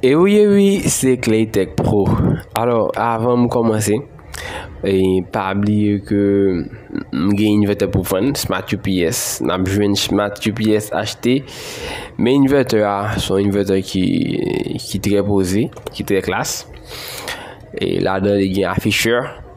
E wi e wi se Clay Tech Pro Alors avan m komanse e pa bliye ke m gen inverter pou vann Smart UPS n ap jwenn Smart UPS achte men inverter a se yon inverter ki trè poze ki trè klas e ladan li gen afficheur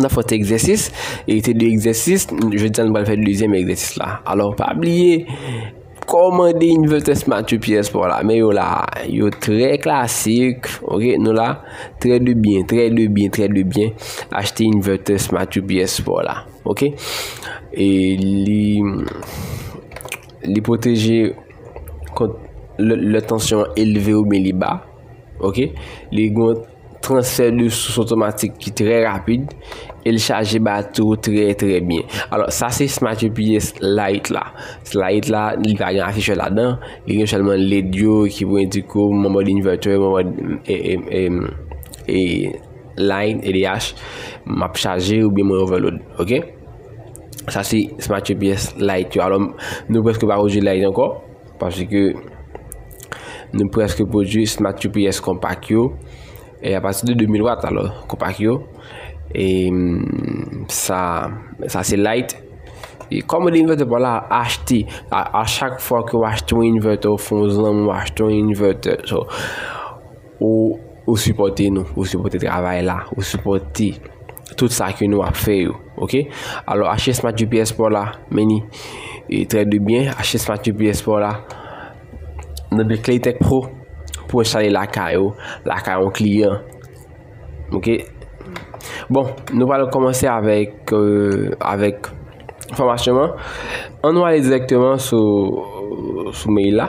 N ap fè yon ti egzèsis, e se de egzèsis, jodi a nou pral fè dezyèm egzèsis la. Alò, pa bliye, kòmande Investors Matthew Pierre Sport la, men yo la, yo trè klasik, ok, nou la, trè de byen, trè de byen, trè de byen, achte Investors Matthew Pierre Sport la, ok. E li, li pwoteje kont lè tansyon elve oubyen li ba, ok, li gont. transfè de sous otomatik ki trè rapid e l chaje batri ou trè trè byen alò sa se Smart UPS Lite la Lite la li pa gen afichè ladan li gen sèlman led yo ki pou endike w mòd inverter mòd e line edh m ap chaje oubyen mwen overload ok sa se Smart UPS Lite yo alò nou prèske pa wè w di Lite ankò Paske nou preske pwodui Smart UPS konpak yo e apati de 2000 Watt alò konpak yo e sa sa se light e kòm ou de invètè pa w la achte a chak fwa ke w achte yon invètè ou fè yon zanmi ou achte yon invètè so Ou sipòte nou, ou sipòte travay la, ou sipòte tout sa ke nou ap fè yo, ok? Alò achte Smart GPS pa w la, meni e trè de byen, achte Smart GPS pa w la nan de Claytech Pro pou enstale lakay ou, lakay yon kliyan, ok? Bon, nou pa lè kòmanse avèk, euh, avèk fòmasyon an, an nou ale direktèman sou, sou mail la.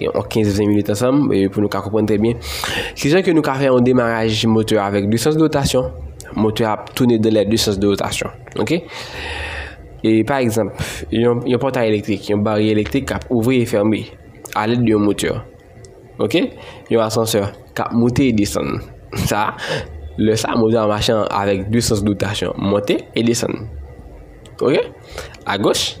yon 15-20 minit ansanm pou nou ka konprann trè byen. Ki jan ke nou ka fè yon demaraj motè avèk 2 sans de rotasyon, motè ap toune de lè 2 sans de rotasyon. Ok? E pa egzanp, yon pòtay elektrik, yon barye elektrik kap ouvri e fèmbe alè de yon motè. Ok? Yon asansè kap moute e desann. Sa, lè sa motè a machan avèk 2 sans de rotasyon, monte e desann. Ok? A goch.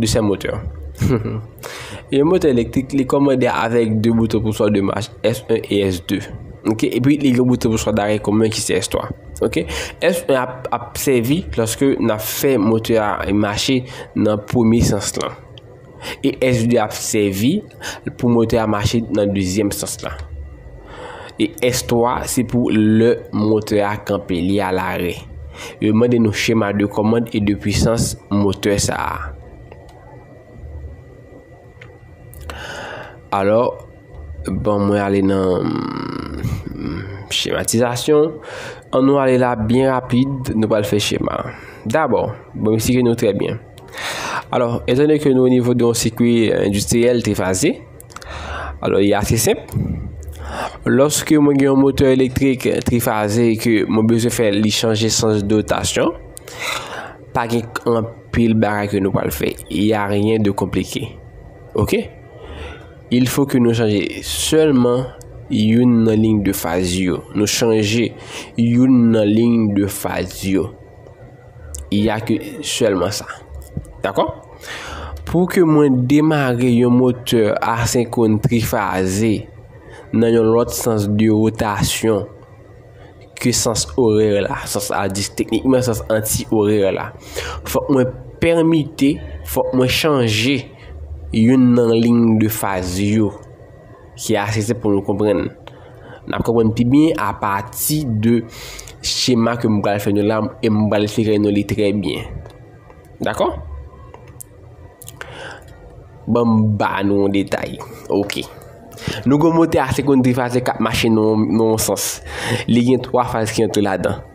Desè motè Yon motè elektrik li kòmande avèk 2 bouton pou chwa de mach S1 e S2 Epi li gen yon bouton pou chwa darè komen ki se S3 S1 ap sèvi lòske n ap fè motè a mache nan premye sans lan E S2 ap sèvi pou motè a mache nan dezyèm sans la. E S3 se pou lè motè a kanpe, li a lare. Yo mande nou chema de kòmand e de pwisans motè sa a. Alò, bon mwen ale nan chematizasyon. An nou ale la byen rapid, nou pral fè chema. Dabò, bon mwen sike nou trè byen. Alò, etan donè ke nou o nivo de yon sikwi endistriyèl te faze, alò li ase senp. Lòske mwen gen yon motè elektrik te faze e ke mwen bezwen fè li chanje sans dotasyon, pa gen anpil bagay ke nou pral fè. Y a ryen de konplike. Ok? Il fo ke nou chanje sèlman youn nan lign de faz yo. Nou chanje youn nan lign de faz yo. Il ya ke selman sa. Dakò? Pou ke mwen demare yon motè asenkron trifaze nan yon lòt sans de rotasyon ke sans orè la, sans a dis teknikman sans anti orè la. Fòk mwen pèmite, fòk mwen chanje yon nan ling de faz yo. Ki ase senp pou nou konprann. N ap konprann pi byen apati de chema ke m pral fè nou la e m pral klere nou li trè byen. Dakò? Ban m ba nou yon detay. Ok. Nou gen yon motè asekonn trifazè k ap mache nan yon sans. Li gen twa faz ki antre ladan.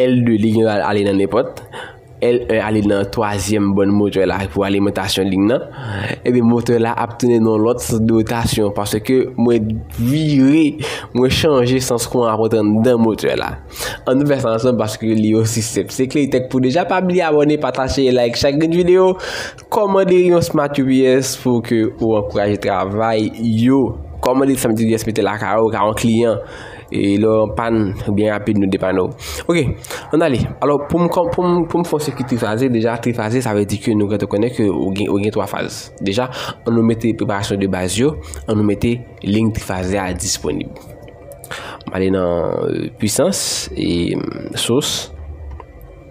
L2 li gen ale nan nenpòt. L1 ale nan twazyèm bòn motè la pou alimantasyon lin nan. Ebyen motè la ap tounen nan yon lòt sans de rotasyon paske mwen vire, mwen chanje sans kouran ap rantre anndan motè la. An nou fè sa ansanm paske li osi senp. Se Claytech pou deja pa bliye abòne, pataje e like chak grenn videyo. Kòmande yon Smart UPS pou ke ou ankouraje travay yo. Kòmande yon Smart UPS mete lakay ou ka yon kliyan. E lè yon pàn, byen rapid nou depann ou. Ok, an ale. Alò, pou m kon, pou m, pou m fè yon sikwi trifaze, deja trifaze sa vle di ke nou gentan konnen ke ou gen, ou gen 3 faz. Deja, an nou mete preparasyon de baz yo, an nou mete lign trifaze a disponib. M ale nan Puisans e Sous.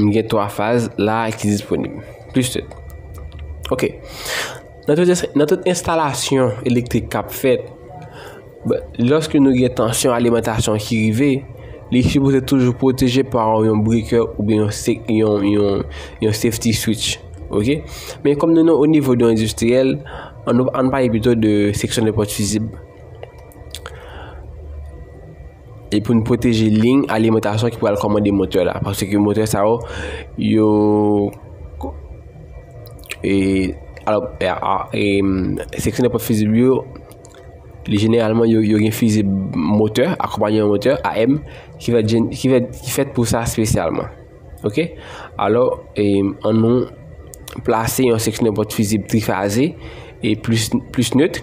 M gen 3 faz la ki disponib. Plis tout. Ok. Nan tout enstalasyon elektrik kap fèt, lòske nou gen tansyon alimentasyon ki rive, li sipoze toujou pwoteje pa yon brikè ou byen yon safety switch. Ok. Men kòm nou nan o nivou de yon endistriyèl, an nou pale pito de seksyon de pòt fizib. e pou n pwoteje liy alimantasyon ki pral kòmande motè la paske motè sa yo yo e alò e seksyon nenpòt fizib yo li jeneralman yo gen fizib motè akonpaye yon motè AM ki fèt jen ki fèt ki fèt pou sa espesyalman ok alò e an nou plase yon seksyon nenpòt fizib trifaze e plis plis nèt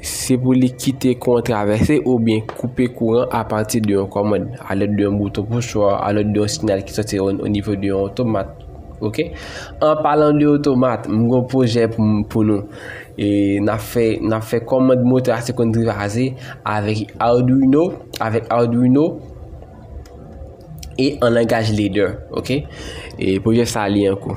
Se pou li kite kouran travèse oubyen koupe kouran apati de yon kòmand, alèd de yon bouton pouswa, alèd de yon sinyal ki sòti o nivo de yon otomat. Ok, an palan de otomat, m g'on pwojè pou nou. E na fè, na fè kòmand motè a se konn trivase avèk Arduino, avèk Arduino e an langaj ladder. Ok, e pwojè sa li an kou.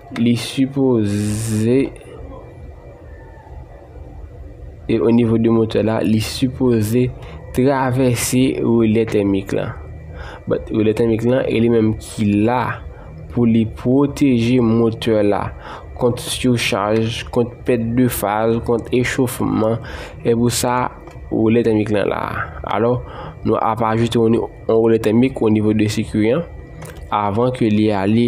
Li sipoze e o nivo de motè la li sipoze travèse relè tèmik lan. But relè tèmik lan e li menm ki la pou li pwoteje motè la kont surcharge, kont pèt de faz, kont echofman. E pou sa relè tèmik lan la. Alò nou ap ajoute yon relè tèmik o nivo de sikiyan avan ke li ale.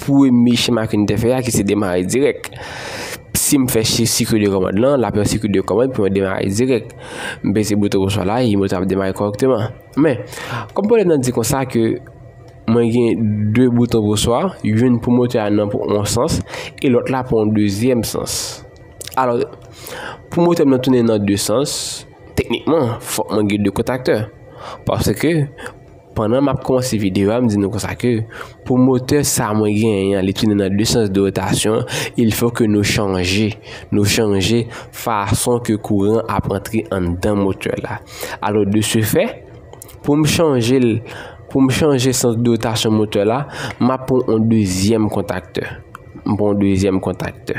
Premye chema ke n te fè a ki se demare dirèk. Si m fè sikil de kòmand lan, l ap yon sikil de kòmand pou mwen demare dirèk. M peze bouton pou chwa la, e moto a ap demare kòrèkteman. Men, kòm pwoblèm nan di konsa ke mwen gen 2 bouton pou chwa, youn pou moto a nan yon sans, e lòt la pou yon dezyèm sans. Alò, pou moto m nan tounen nan 2 sans, teknikman, fòk mwen gen 2 kontaktè. Paske. Pandan map kòmanse video a m di nou konsa ke pou motè sa mwen genyen an li tounen nan 2 sans de rotasyon il fò ke nou chanje nou chanje fason ke kouran ap antre anndan motè la alò de se fè pou m chanje l pou m chanje sans de rotasyon motè la map pran yon dezyèm kontaktè m pran yon dezyèm kontaktè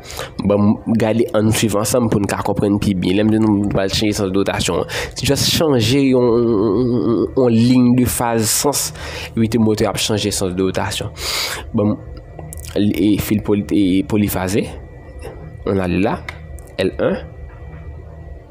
Banm gade ann swiv ansanm poun ka konprann pi byen. Lèm di nou nou pral chanje sans dotasyon an. Se just chanje yon yon liy de faz sans unite motè ap chanje sans dotasyon. Banm e fil poli e polifaze. Ann ale la L1.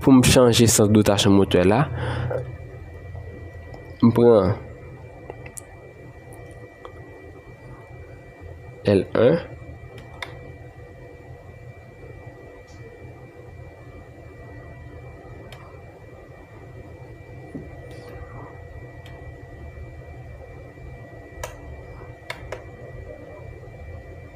Pou m chanje sans dotasyon motè la, m pran L1.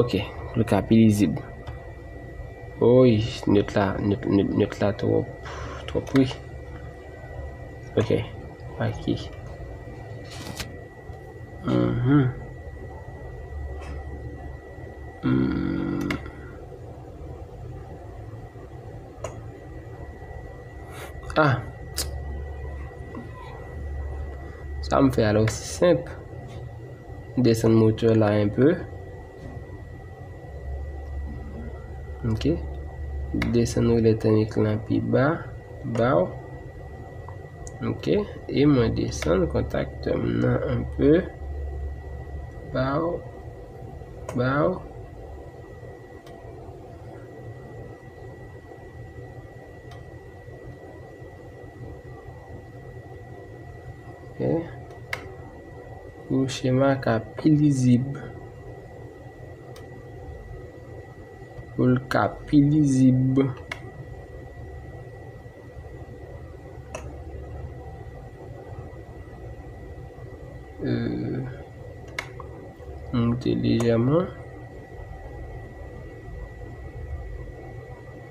Ok pou l ka pi lizib. Woyy net la net la twòp wi. Ok paki A sa m fè a la osi senp. M desann moteur la un peu. Ok. M desann relè tèmik la pi ba. Baw. Ok. E mwen desann kontaktè m nan un peu. Baw. Baw. Ok. Pou chema ka pi lizib. Pou l ka pi lizib. Moute lejèman.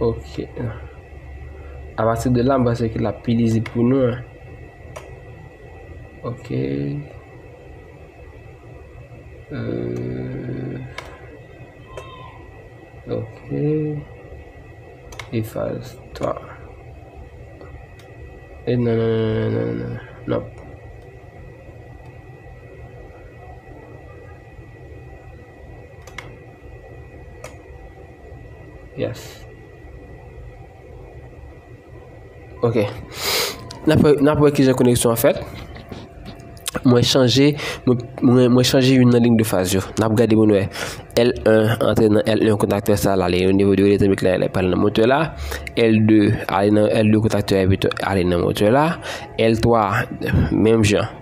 Ok A pati de la m panse ke l ap pi lizib pou nou an Ok Ok Efase to E nan nan nan nan Nonp Yes Ok Nap wè kijan koneksyon an fèt Mwen chanje Mwen chanje youn nan ling de faz yo Nap gade pou nou wè L1 antre nan L1 kontakte sa la li Onivo de rete mit la li pral nan motè la L2 ale nan L2 kontakte ale nan motè la L3 menm jan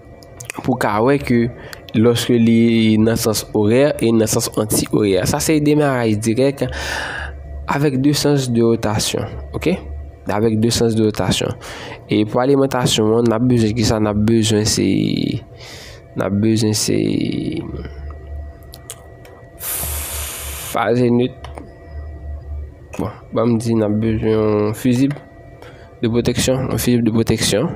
pou ka wè ke lòske li nan sans orè e nan sans anti-orè. Sa se demaraj dirèk avèk 2 sans de rotasyon. Ok? Avèk 2 sans de rotasyon. E pou alimantasyon an, nan bezwen ki sa? Nan bezwen se... Nan bezwen se... Faze nit. Bon, banm di nan bezwen yon fizib. de pwoteksyon, yon fizib de pwoteksyon,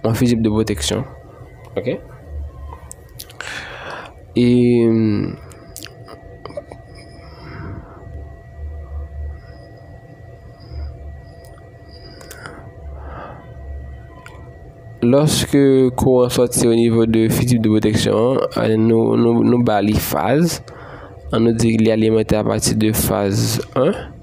yon fizib de pwoteksyon, ok, e, lòske kouran sòti o nivo de fizib de pwoteksyon an, nou ba li faz, an nou di li alimante a pati de faz 1,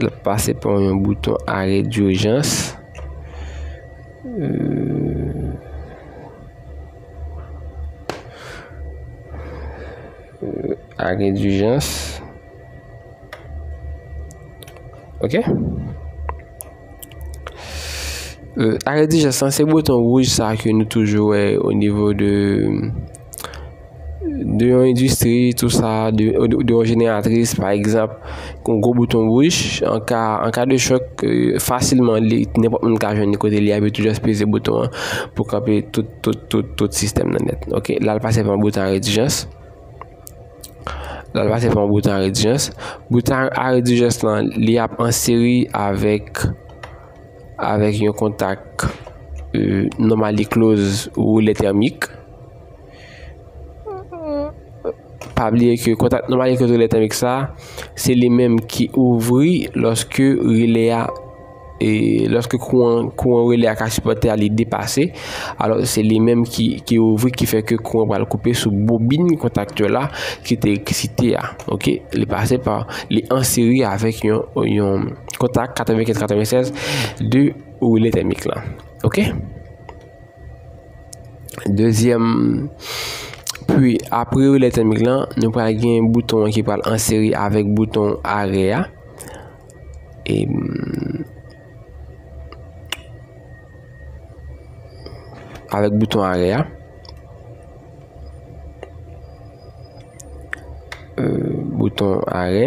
L ap pase pa yon bouton arè durjans. Arè durjans. Ok. Arè durjans lan se bouton wouj sa ke nou toujou wè o nivo de... de yon endistri tou sa, de yon jeneratris pa egzanp, yon gwo bouton wouch, an ka de chòk fasilman li, nenpòt moun ka jwenn li kote li a, epi tou jis peze bouton an pou kanpe tout, tout, tout, tout sistèm nan nèt, ok, la l pase pa yon bouton aredijans, la l pase pa yon bouton aredijans, bouton aredijans lan li ap an seri avèk avèk yon kontak nòmal li kloz woulè tèmik. Pa bliye ke kontak nòmal ki kontwole tèmik sa a, se li menm ki ouvri lòske relè a, lòske kouran relè a ka sipòte a li depase, alò se li menm ki ouvri ki fè ke kouran pral koupe sou bobin kontaktè la ki te eksite a, ok. Li pase pa, li an seri avèk yon kontak 95 96 de relè tèmik la, ok. Dezyèm pwi apre relè tèmik lan, nou pral gen bouton ki pral an seri avèk bouton arè a. E avèk bouton arè a. E bouton arè.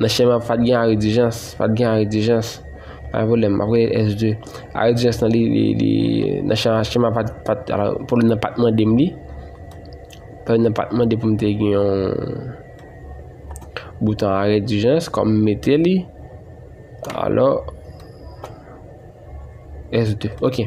Nan chema ap fat gen arrêt d'urgence, fat gen arrêt d'urgence. Pa gen pwoblèm, map rele S2. Arrêt d'urgence nan li, li, li, nan chema, chema ap fat, fat, alò, pwoblèm nan pat mande m li. Pwoblèm nan pat mande pou m te gen yon bouton arrêt d'urgence, kòm m mete li, alò, S2, ok.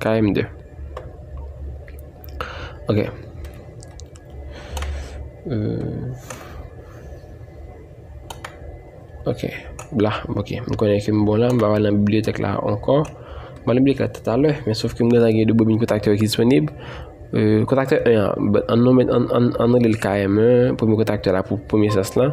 KM2 Ok Ok La Ok M konnen ke m bon la M va nan bibliotek la anko M nan bibliotek la tatale Men sof ke m bezwen gen 2 bobin kontakte yo ki disponib Kontakte 1 an An nou met An nou li l KM1 Pou m kontakte la Pou premye sas la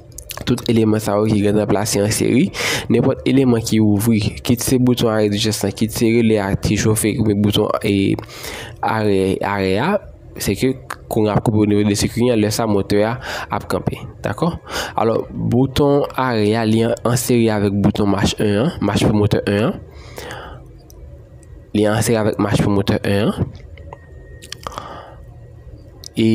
tout eleman sa yo ki gen nan plase an seri, nenpòt eleman ki ouvri, kit se bouton arè dijans lan, kit se relè a ki chofe ki gen bouton arè a, se ke kouran ap koupe o nivo de sikwi an, lè sa motè a ap kanpe, dakò? Alò, bouton arè a li an seri avèk bouton mach 1 an, mach pou motè 1 an, li an seri avèk mach pou motè 1 an, e...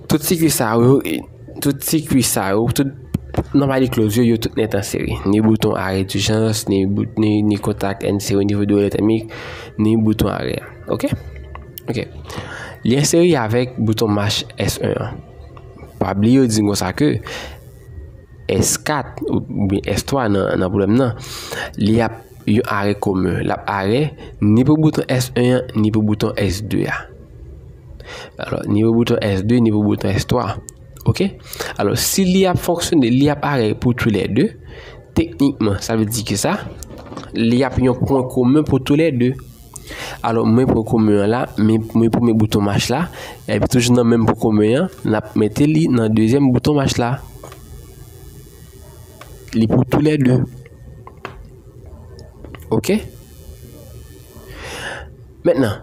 Tout sikwi sa yo, tout sikwi sa yo, tout nan mali kloz yo, yo tout nèt an seri. Ni bouton arè dijans, ni kontak en seri, ni vodou eletemik, ni bouton arè. Ok? Ok. Li en seri avèk bouton mach S1 an. Pa bli yo di m konsa ke. S4 oubyen S3 nan pwoblèm nan, li ap yon arè komen. L ap arè ni pou bouton S1 an, ni pou bouton S2 a. Alò, ni pou bouton S2, ni pou bouton S3. Ok? Alò, si li ap fonksyone, li ap arè pou tou lè 2, teknikman, sa vle di ki sa? Li ap yon pwen komen pou tou lè 2. Alò mwen pran kome an la, mwen prime bouton mach la, epi toujou nan menm pou kome an, n ap mete li nan dezyèm bouton mach la. Li pou tou lè 2. Ok? Mèt nan.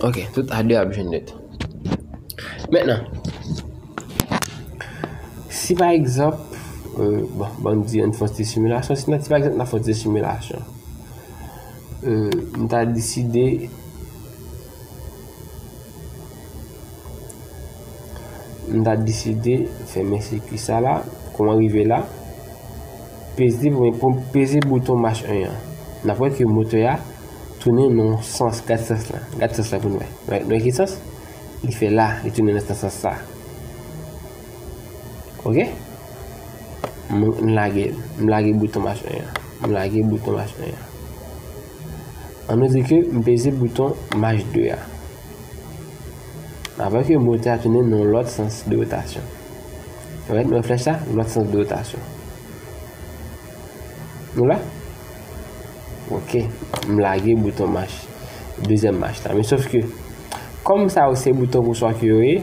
Ok, tout a 2 ap jwenn nèt. Mètnan, si pa egzanp, bon, ban nou di an fon ti similasyon, si pa egzanp nan fon ti similasyon, m ta deside, M ta deside fèmen sikwi sa la. Kouman rive la? Peze pou mwen peze bouton mach 1 an. N ap wè ke motè a tounen nan yon sans. Gad sans la. Gad sans la pou nou wè. Nou wè ki sans? Li fè la. Li tounen nan sans sa. Ok? M lage. M lage bouton mach 1 an. M lage bouton mach 1 an. An nou di ke m peze bouton Maj 2 a. Apre ke motè a tounen nan yon lòt sans de rotasyon. Ou wè, nou wè flèch la? Lòt sans de rotasyon. Nou la? Ok. M lage bouton Maj. Dezyèm Maj la. Men sof ke, kòm sa yo se bouton pouswa ke yo ye,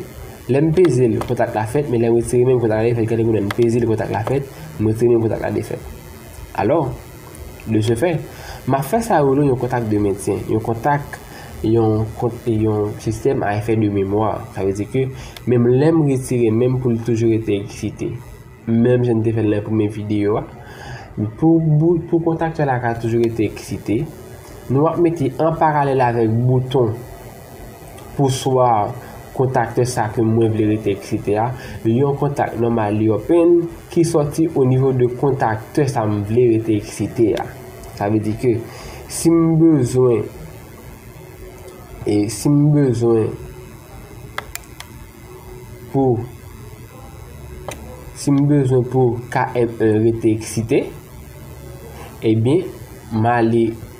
lè m peze l, kontak la fèt, men lè m retire men m kontak la defèt. Gade kou lè m peze l kontak la fèt, m retire men m kontak la defèt. Alò! De se fè, m ap fè sa yo rele yon kontak de mentyen, yon kontak, yon kont e yon sistèm a efè de memwa. Sa vle di ke menm lè m retire men m pou l toujou rete eksite. Menm jan n te fè l nan premye videyo a, pou bout, pou kontaktè la ka toujou rete eksite, nou ap mete an paralèl avèk bouton. pou swa kontakte sa ke mwen vle rete eksetera, yon kontak nòmal li open ki sòti o nivo de kontakte sa m vle rete eksetera. Sa vle di ke si m bezwen e si m bezwen pou si m bezwen pou KM1 rete eksete, ebyen m ale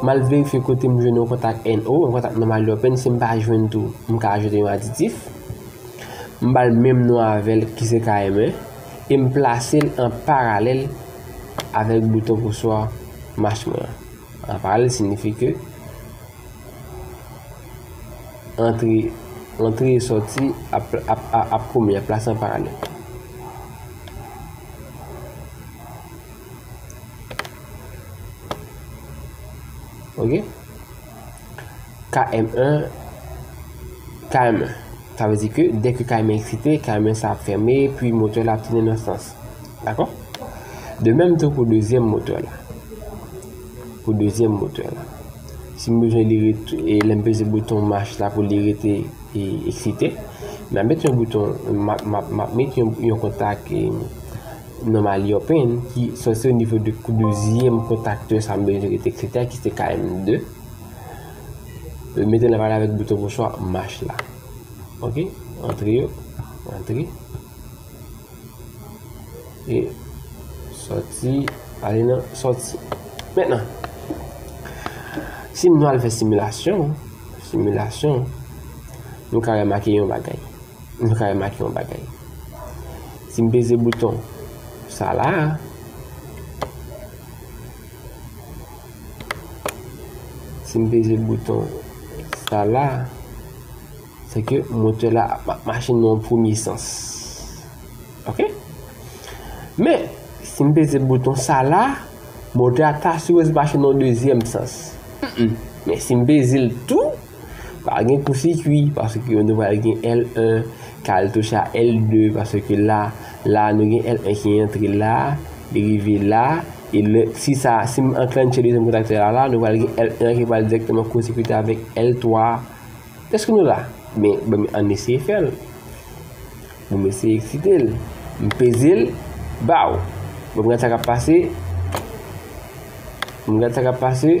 M al verifye kote m jwenn yon kontak NO, yon kontak nòmal yo pen, si m pa jwenn tou, m ka ajoute yon aditif. M ba l menm non avè l ki se KME e m plase l an paralèl avèk bouton pouswa mach mwen an. An paralèl signifi ke antre antre e sòti ap ap ap kome, ap plase an paralèl. Ok KM 1 KM 1 Sa vle di ke dèk ke KM 1 eksite KM 1 sa ap fèmen Pi motè la ap tounen nan sans Dakò De menm tou pou dezyèm motè la Pou dezyèm motè la Si m bezwen li rete E lè m peze bouton marche la pou li rete E eksite M ap met yon bouton M ap met yon kontak E Nonm Aliopen ki sòti o nivo de kou dezyèm kontaktè sa m bezwen rete kritè ki se KM 2 yo mete l an pale avèk bouton pochwa mach la ok antre yo antre e sòti ale nan sòti mètnan si nou al fè similasyon similasyon nou ka remake yon bagay Nou ka remake yon bagay. Si m peze bouton sa la a. Si m peze bouton sa la a. Se ke motè la ap mache nan yon premye sans. Ok? Men, si m peze bouton sa la a. Motè a ta sipoze mache nan yon dezyèm sans. Men, si m peze l tou. Pa gen pou sikwi paske nou pral gen L1, kaltouch a L2 paske la, la nou gen L1 ki antre la, li rive la, e lè, si sa, si m anklantche dezyèm kontaktè a la, nou pral gen L1 an ki pral dirèkteman kosikite avèk L3. Èske nou la? Ben, ban m, ann eseye fè l. Ban m eseye eksite l. M peze l, baw! Ban m gad sa k ap pase. Ban m gad sa k ap pase.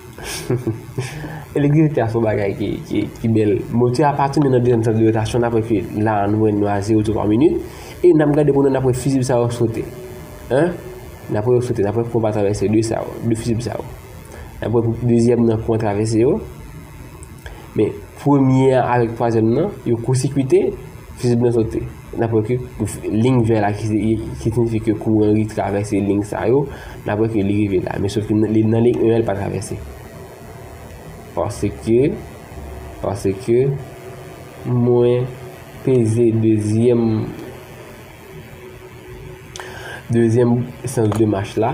Elektrisite a son bagay ki bèl. Motè a pa tounen nan dezyèm sans de rotasyon nan prèske la a nou wè nou a zewo tou pa minit. E nan gade pou nou nan wè fizib sa yo sote. An? Nan wè yo sote, nan wè kou pa travèse de sa yo, de fizib sa yo. Nan wè pou dezyèm nan kou an travèse yo. Men premye a avèk twazyèm nan, yo koursikwite, fizib nan sote. Nan prè ke ling vè la ki sinifi ke kouran li travèse ling sa yo, nan prè ke li rive la. Men sof ke nan ling 1 an li pa travèse. Paske, paske, mwen peze dezyèm, dezyèm sans de mach la.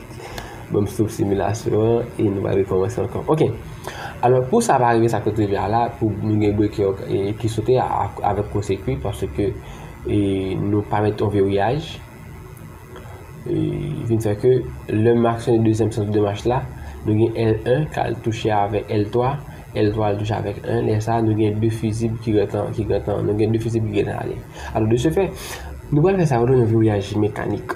Bon m stop similasyon an e nou va rekòmanse ankò ok Alò pou sa pa rive sa sot rive a la pou nou gen breke ki sote avèk kò sekwi paske nou pa met yon veriyaj e vin fè ke lè m aksyone dezyèm sans de mach la nou gen L1 k al touche avèk L3 L3 al touche avèk 1 lè sa nou gen 2 fizib ki gentan nou gen 2 fizib ki gentan ale alò de se fè nou pral fè sa yo rele yon veriyaj mekanik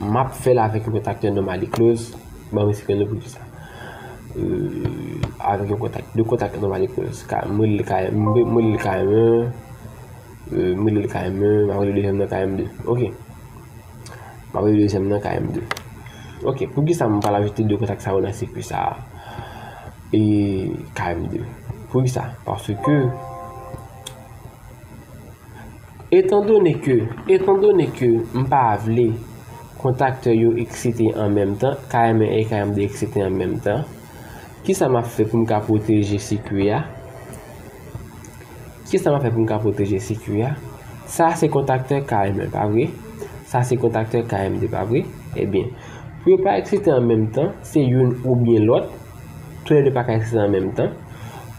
Map fèl avèk yon kontaktè nòmal e kloz, banm respè nou pou di sa. Euh avèk yon kontak, 2 kontak nòmal e kloz. Ka m rele l KM, m rele l KM 1, m rele l KM 1, map rele dezyèm nan KM 2. Ok. Map rele dezyèm nan KM 2. Ok, pou ki sa m pral ajoute 2 kontak sa yo nan sikwi sa a? E KM 2. Pou ki sa? Paske Etandone ke Etandone ke m pa vle kontaktè yo eksite an menm tan, KM1 e KM2 eksite an menm tan, ki sa m ap fè pou m ka pwoteje sikui a? Ki sa m ap fè pou m ka pwoteje sikui a? Sa a se kontaktè KM1, pa vre? Sa a se kontaktè KM2, pa vre? Ebyen, pou yo pa eksite an menm tan, se youn oubyen lòt, tou lè de pa ka eksite an menm tan.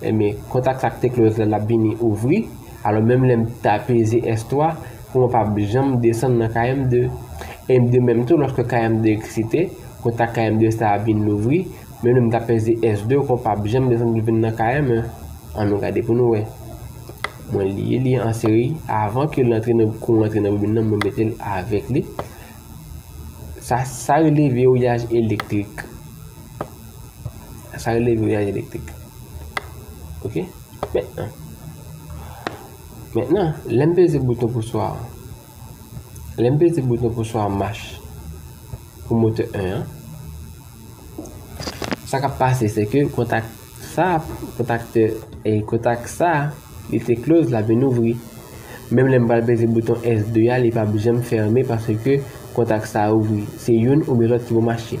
Enben, kont ak sak te close la lap vini ouvri, alò menm lèm ta peze S3 pou mwen pap janm desann nan KM2. En de menm tou loske KM2 eksite, kont ak KM2 sa ap vin louvri, menm lèm ta peze S2 kon pap janm desann pou vin nan KM1. An nou gade pou nou wè. Mwen liye li an seri, avan ke l antre nan kou antre nan bobin nan mwen metel avèk li. Sa sa rele vewouyaj elektrik. Sa rele voyaj elektrik. Ok? Mètnan. Mètnan, lè m peze bouton pou swa an. Lè m peze bouton pou swa mach. Pou motè 1 an. Sa k ap pase se ke kontak sa, kontak te, e kontak sa, li te kloz la vin ouvri. Menm lè m pral peze bouton S2 a, li pa p janm fèmen paske kontak sa ouvri. Se youn oubyen lòt ki pou mache.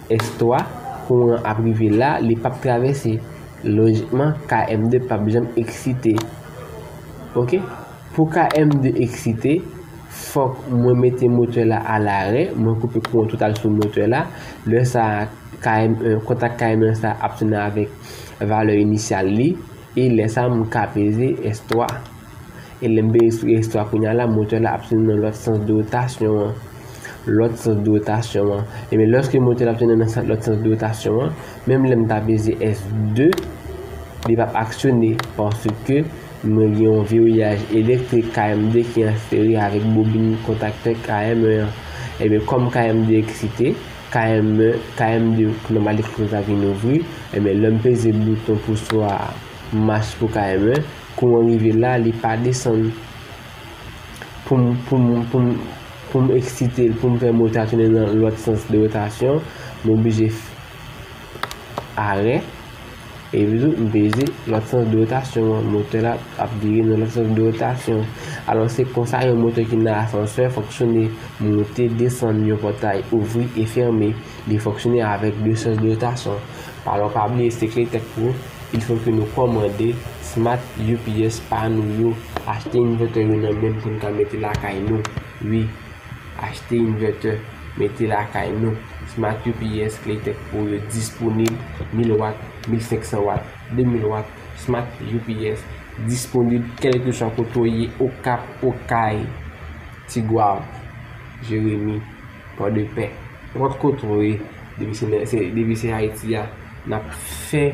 S3, kouran ap rive la, li pap travèse. Lojikman, KM2 pap janm eksite. Ok. Pou KM2 eksite, fòk mwen mete motè la a larè, mwen koupe kouran total sou motè la. Lè sa a, KM1, kontak KM1 sa a ap tounen avèk valè inisyal li. E lè sa a, m ka peze S3. E lè m vin espike istwa kounye a la, motè la ap tounen nan lòt sans de wotasyon an. Lòt sans de wotasyon an. Ebyen lòske motè la ap tounen nan lòt sans de wotasyon an, menm lè m ta peze F2, li p ap aksyone paske mwen gen yon veriyaj elektrik KM2 ki an seri avèk bobin kontaktè KM1 an. Ebyen kòm KM2 eksite, KM1, KM2 ki nòmal eksite sa vin ouvri, ebyen lè m peze bouton pou swa mach pou KM1, Kouran rive la li pa desann poum poum poum poum eksite l poum fè mol ta tounen nan lòt sans de rotasyon m oblije fè arè epi tou m peze lòt sans de rotasyon an motè la ap vire nan lòt sans de rotasyon alò se konsa yon motè ki nan asansè fonksyone moute desann yon pòtay ouvri e fème li fonksyone avèk de sans de rotasyon alò pa bliye se kle tèt pou Il faut que nou kòmande smart UPS pa nou yo, achte inverter yo nan menm pou n ka mete lakay nou ui, achte inverter mete lakay nou, smart UPS Claytech Pro yo disponib 1000 watt, 1500 watt, 2000 watt smart UPS disponib kèlkeswa kote w ye Okap, Okay, Tigwav, Jeremi. Port de paix. Nenpòt kote ou ye, depi se Ayiti a, n ap fè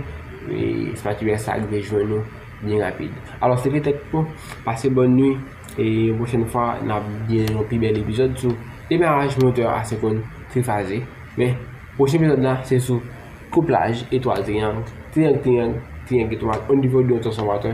espatula sa rive jwenn ou byen rapid. Alò, se petèt pou, pase bòn nui, e yon pwochèn fwa n ap gen yon pi bèl epizòd sou demaraj motè a se konn trifaze. Men, pwochen epizòd la se sou kouplaj etwal triyang, triyang triyang, triyang etwal onivo de yon transfòmatè.